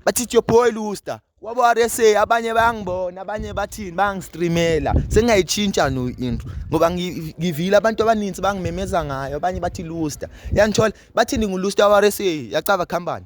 bathi it's your boy Luster wabo RSA abanye bayangibona abanye bathini bangistreamela sengiyayitshintsha no into ngoba ngivile abantu abaninzi bangimemeza ngayo abanye bathi Luster yangithola bathi ngingu Luster wa RSA yacaba company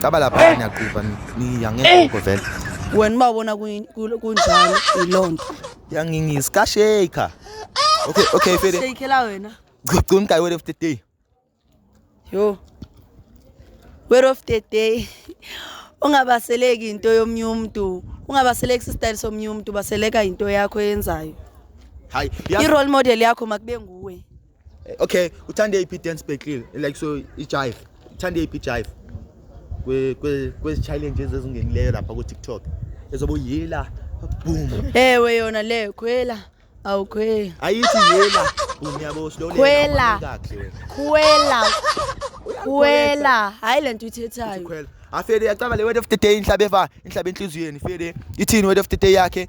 Caba lapha niyaqupha niyangekho vele. Wena ubabona kunjani ilonto. Yangingisi ka shaker. Okay, okay, Fede. Shaker la wena. Gcugcun ka word of the day. Yo. Word of the day. Ungabaseleki into yomnye umuntu. Ungabaseleki sistyle somnye umuntu, baseleka into yakho eyenzayo. Hayi, i-role model yakho makube nguwe. Eh, okay, uthanda iphi dance battle like so ijive. Uthanda iphi jive? Kwe kwe kwezi challenges ezingenileyo lapha ku TikTok. Ezobo yela boom. Ewe yona le khwela. Awukhweli. Ayithi yela. Boom yabo slow le. Khwela. Khwela. Khwela. Hayi lento ithethayo. Khwela. Afede yacaba le word of the day inhlabe va inhlabe enhliziyweni. Fede ithini word of the day yakhe?